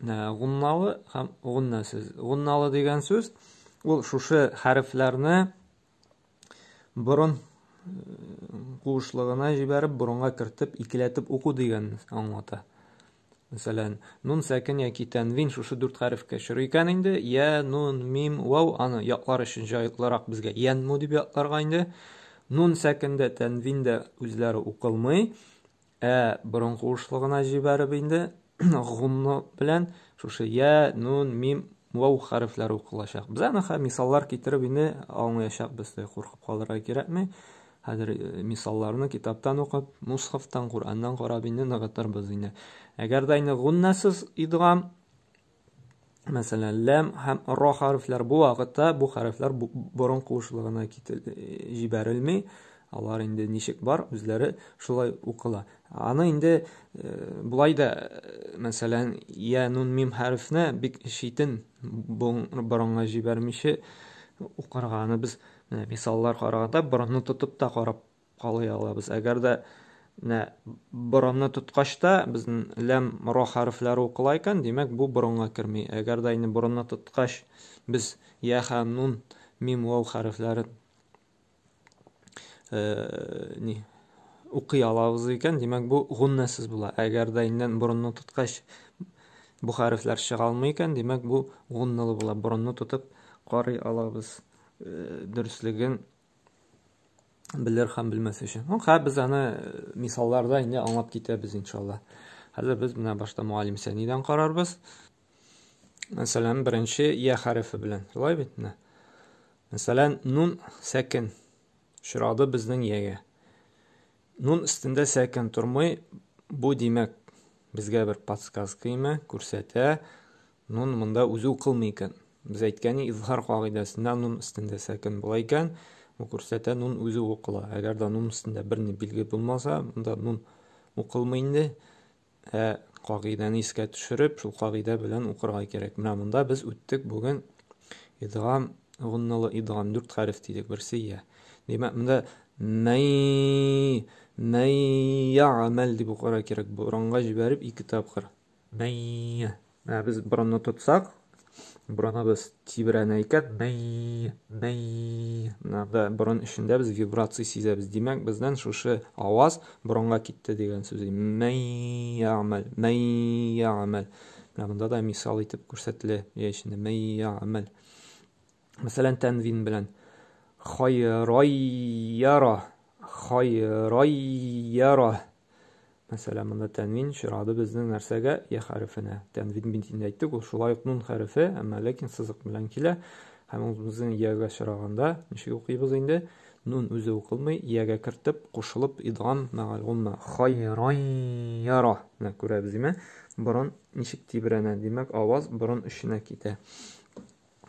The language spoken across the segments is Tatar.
гунналы һәм гунна сүз. Гунналы дигән сүз ул шушы хәрефләрне борын куышлыгына җибәреп, борынга кертеп, икеләтеп уку дигән аңлата. Мәсәлән, нун сәкен яки тәнвин шушы дүрт хәрефкә чоры икән инде, я, нун, мим, вау, аны яклар өчен җайлырак безгә янму дип якларга инде. Нун сәкендә, тәнвиндә үзләре укылмый. Ә борын куышлыгына җибәреп инде гунно белән шушы я, нун, мим, вау хәрефләре укылачак. Без аны мисаллар китереп инде аңлаячакбыз, куркып калырга кирәкми. Хәзер э, мисалларны китаптан укып, мусхафтан, Кураннан карап инде ныгытырбыз инде. Әгәр дә инде гуннасыз идгам Мәсәлән, ләм һәм ро хәрефләр бу вакытта бу хәрефләр борын куышлыгына җибәрелми. Алар инде ничек бар, үзләре шулай укыла. Аны инде э, болай да, э, мәсәлән, я нун мим хәрефне бик читен борынга җибәрмичә укырганы без мисаллар караганда борынны тотып та карап калый алабыз. Әгәр дә менә борынны тоткач та безнең ләм ро хәрефләре укыла икән, димәк бу борынга керми. Әгәр дә инде борынны тоткач без я ха нун мим вау хәрефләрен э, ни укый алабыз икән, димәк бу гуннасыз була. Әгәр дә инде борынны тоткач бу хәрефләр чыга алмый икән, димәк бу гунналы була. Борынны тотып карый алабыз. Э, дөрслеген Белер һәм белмәс өчен. Ну, хәзер без аны э, мисалларда инде аңлап китәбез, иншалла. Хәзер без менә башта муалим сәнидән карарбыз. Мәсәлән, беренче я хәрефе белән. Шулай бит менә. Мәсәлән, нун сәкен очрады безнең ягә. Нун өстендә сәкен тормый, бу димәк безгә бер подсказка име, күрсәтә, Нун монда үзе укылмый икән. Без әйткәни, изһар кагыйдәсендә нун өстендә сәкен була икән, бу күрсәтә, нун үзе укыла. Әгәр дә нун өстендә бер ни билге булмаса, монда нун укылмый инде. Ә кагыйдәне искә төшереп, шул кагыйдә белән укырга кирәк. Менә монда без үттек бүген идгам гунналы идгам дүрт хәреф дидек, берсе я. Димәк, монда мәй мәй ягамәл дип укырга кирәк. Борынга җибәреп ике тапкыр. Мэй. Ә без борынны тотсак, борыныбыз тибрәнә икән. Мэй, мэй. Менә борын эчендә без вибрация сизәбез. Димәк, бездән шушы аваз борынга китте дигән сүз. Мэй ямал, мэй ямал. Менә монда да мисал итеп күрсәтелә. Яй эчендә мэй ямал. Мәсәлән, тәнвин белән. Хайрайяра, хайрайяра. Мәсәлән, монда тәнвин чирады безнең нәрсәгә? Я хәрефенә. Тәнвин бит инде әйттек, ул шулай ук нун хәрефе, әмма ләкин сызык белән килә. Һәм ул безнең ягә чираганда ничек укыйбыз инде? Нун үзе укылмый, ягә кертеп, кушылып, идгам, мәгаль гомма. Хайрайяра. Менә күрәбез, диме? Борын ничек тибрәнә? Димәк, аваз борын эченә китә.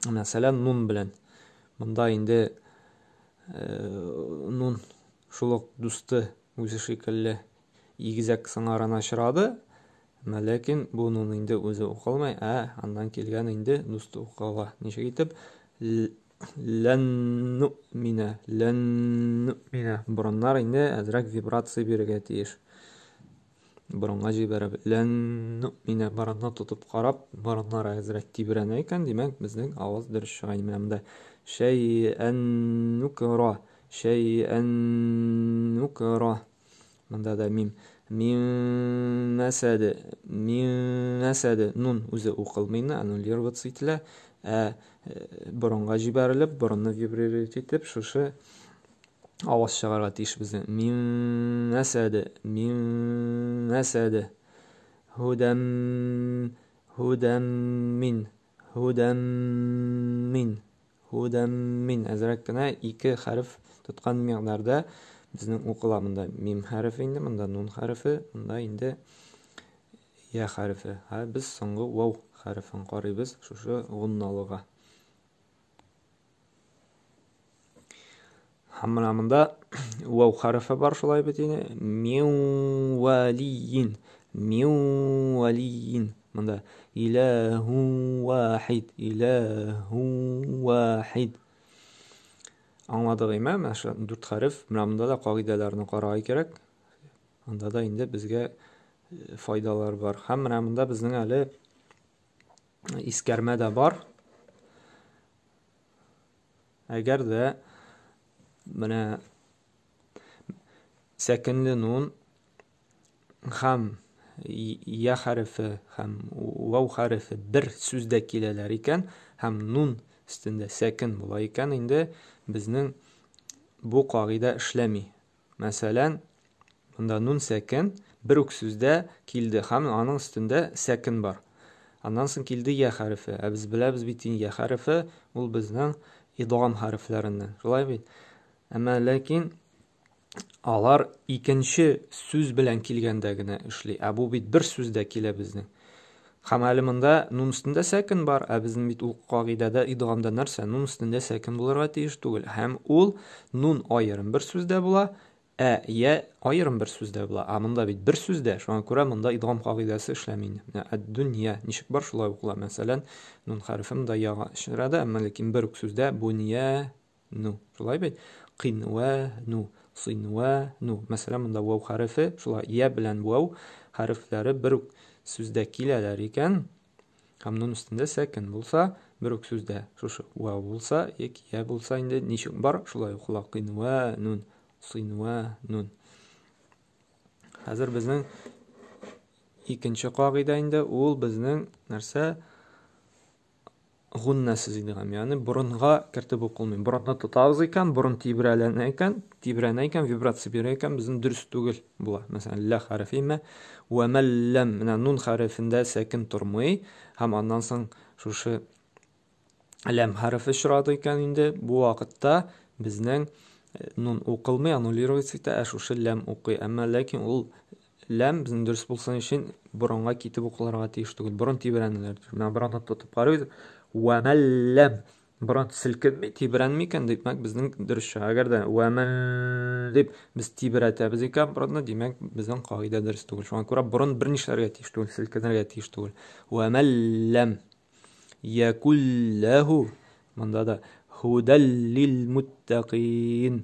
Мәсәлән, нун белән. Монда инде э, нун Шул ук дусты үзе шикелле игезәк сыңарына очрады, Әмма ләкин буның инде үзе укылмый, ә аннан килгән инде дусты укыла. Ничек итеп? Ләнну минә, ләнну минә. Борыннар инде әзрәк вибрация бирергә тиеш. борынга җибәреп ләннүминә борынны тотып карап борыннары әзрәк тибрәнә икән димәк безнең аваз дөрес чыга менә монда шәйәннүкра шәйәннүкра монда да мим мимәсәде мимәсәде нун үзе укылмый инде аннулироваться ителә ә борынга җибәрелеп борынны вибрировать итеп шушы аваз чыгарга тиеш безне. Мин мәсәде, мин мәсәде. Худам, худам мин, худам мин, худам мин. Әзрәк кенә ике хәреф тоткан мигъдарда безнең укыла монда мим хәрефе инде, монда нун хәрефе, монда инде я хәрефе. Һә без соңгы вау хәрефен карыйбыз шушы гунналыга. һәм менә монда вау хәрефе бар шулай бит инде миуалиин миуалиин монда иләһу вахид иләһу вахид аңладык име менә шу дүрт хәреф менә монда да кагыйдәләрне карарга кирәк анда да инде безгә э, файдалар бар һәм менә монда безнең әле Искәрмә дә бар. Әгәр дә менә сәкенле нун һәм я хәрефе һәм вау хәрефе бер сүздә киләләр икән һәм нун өстендә сәкен була икән, инде безнең бу кагыйдә эшләми. Мәсәлән, монда нун сәкен бер үк сүздә килде һәм аның өстендә сәкен бар. Аннан соң килде йә хәрефе. Ә без беләбез бит инде, йә хәрефе ул безнең идгам хәрефләреннән. Шулай бит? Әмма ләкин алар икенче сүз белән килгәндә генә эшли. Ә бу бит бер сүздә килә безнең. Һәм әле монда нун өстендә сәкен бар, ә безнең бит ул кагыйдәдә идгамда нәрсә? Нун өстендә сәкен булырга тиеш түгел. Һәм ул нун аерым бер сүздә була, ә я аерым бер сүздә була. Ә монда бит бер сүздә, шуңа күрә монда идгам кагыйдәсе эшләми инде. Менә әд-дөнья ничек бар, шулай укыла. Мәсәлән, нун хәрефе монда яга чыгырада, әмма ләкин бер үк сүздә буния, ну. Шулай бит? Кинва ну, синва ну. Мәсәлән, монда вау хәрефе, шулай я белән вау хәрефләре бер үк сүздә киләләр икән. Һәм нун өстендә сәкен булса, бер үк сүздә шушы вау булса, яки я булса инде ничек бар, шулай укыла. Кинва нун, синва нун. Хәзер безнең икенче кагыйдә инде ул безнең нәрсә? гуннәсе дигән, ягъни борынга кертеп укылмый. Борынны тотабыз икән, борын тибрәләнә икән, тибрәнә икән, вибрация бирә икән, безнең дөрес түгел була. Мәсәлән, лә хәрефе имә, вә мәлләм, менә нун хәрефендә сәкин тормый, һәм аннан соң шушы ләм хәрефе очрады икән инде, бу вакытта безнең э, нун укылмый, аннулируется итә, ә шушы ләм укый. Әмма ләкин ул Ләм безнең дөрес булсын өчен борынга китеп укылырга тиеш түгел. Борын тибрәнеләр. Менә борынны тотып карыйбыз. Вәмәлләм. Борын селкенми, тибрәнми икән, димәк, безнең дөрес чыга. Әгәр дә вәмәл дип без тибрәтәбез икән борынны, димәк, безнең кагыйдә дөрес түгел. Шуңа күрә борын бернишләргә тиеш түгел, селкенергә тиеш түгел. Вәмәлләм. Якулләһу. Монда да худәллил муттәкин.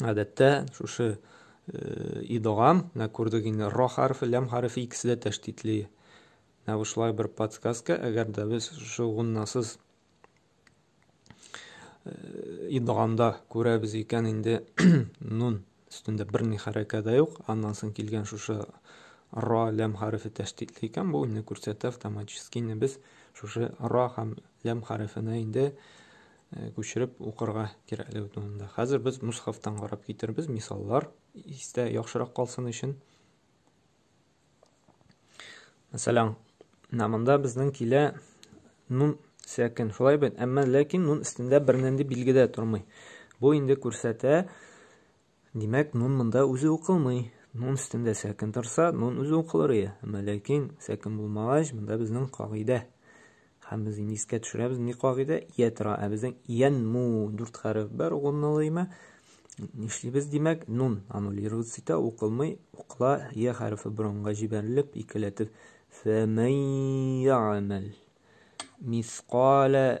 Гадәттә шушы э, идгам, менә күрдек инде ро хәрефе, ләм хәрефе икесе дә тәштитли. Менә шулай бер подсказка, әгәр дә без шушы гуннасыз э, идгамда күрәбез икән инде нун өстендә бер ни хәрәкә дә юк, аннан соң килгән шушы ро ләм хәрефе тәштитли икән, бу инде күрсәтә автоматически инде без шушы ро һәм ләм хәрефенә инде күчереп укырга кирәклеге турында. Хәзер без мусхафтан карап китербез, мисаллар истә яхшырак калсын өчен. Мәсәлән, намында безнең килә нун сәкин. Шулай бит, әмма ләкин нун өстендә бер нинди билге дә тормый. Бу инде күрсәтә, Димәк, нун монда үзе укылмый. Нун өстендә сәкен торса, нун үзе укылыр ие. Әмма ләкин сәкен булмагач, монда безнең кагыйдә. Һәм без инде искә төшерәбез ни кагыйдә? Ия тора. Ә безнең иян му дүрт хәреф бар угынлыймы? Нишлибез, димәк, нун аннулироваться итә, укылмый, укыла, ия хәрефе борынга җибәрелеп, икеләтеп. Фәмән яамәл мисқалә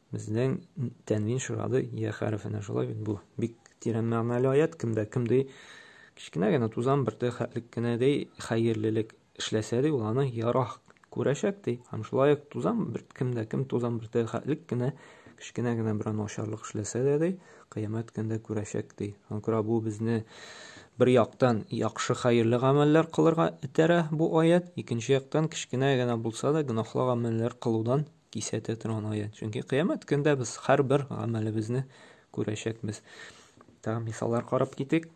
Безнең тәнвин шырады я хәрефенә шулай бит бу. Бик тирән мәгънәле аят кемдә кем ди. Кечкенә генә тузан бер тәхәтлек кенә ди, хәерлелек эшләсә ди, ул аны ярах күрәчәк ди. Һәм шулай ук тузан бер кемдә кем тузан бер тәхәтлек кенә кечкенә генә бер начарлык эшләсә дә ди, кыямәт көндә күрәчәк ди. Шуңа күрә бу безне бер яктан яхшы хәерле гамәлләр кылырга этәрә бу аят, икенче яктан кечкенә генә булса да гөнаһлы гамәлләр кылудан кисәтә торган аят. Чөнки кыямәт көндә без һәрбер гамәлебезне күрәчәкбез. Тагы мисаллар карап китик.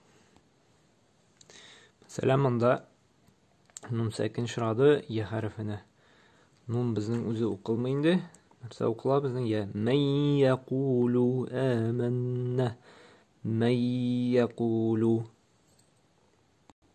Мәсәлән, монда нун сәкин шырады я хәрефенә. Нун безнең үзе укылмый инде. Нәрсә укыла безнең я? Мәй якулу әмәннә. Мәй якулу.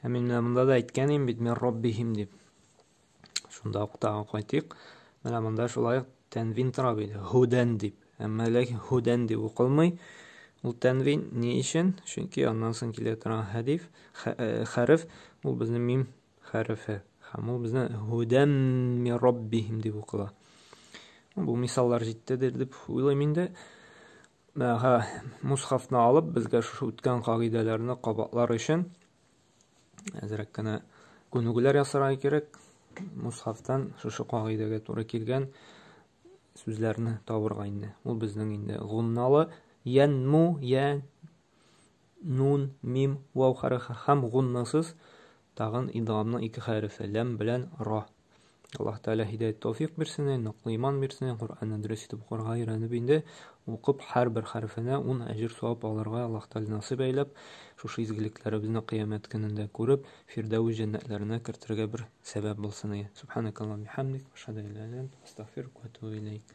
Ә мин менә монда да әйткән идем бит, мин роббихим дип. Шунда ук тагы кайтыйк. Менә монда шулай ук тәнвин тора бит, һудән дип. Әмма ләкин һудән дип укылмый. Ул тәнвин ни өчен? Чөнки аннан соң килә торган хәдиф, э, хәреф, ул безнең мим хәрефе. Һәм ул безнең һудән ми роббихим дип укыла. Бу мисаллар җитте дип уйлыйм инде. Һә, мусхафны алып, безгә шушы үткән кагыйдәләрне кабатлар өчен әзрәк кенә күнегүләр ясарга кирәк. Мусхафтан шушы кагыйдәгә туры килгән сүзләрне табырга инде. Ул безнең инде гунналы янму я нун мим вау хәрәкәт һәм гуннасыз Тагын идгамның ике хәрефе, ләм белән ра. Аллаһ Тәгалә һидәят тәүфик бирсен, ныклы иман бирсен, Коръәнне дөрес итеп укырга өйрәнеп инде, укып һәрбер хәрефенә ун әҗер-савап алырга Аллаһ Тәгалә насыйп әйләп, шушы изгелекләребезне кыямәт көнендә күреп, Фирдәвес җәннәтләренә кертергә бер сәбәп булсын, и. Субханакаллаһумма ва бихамдик, ва ашһаду ан ла илаһа илля әнт, астагъфирука ва атубу иләйк.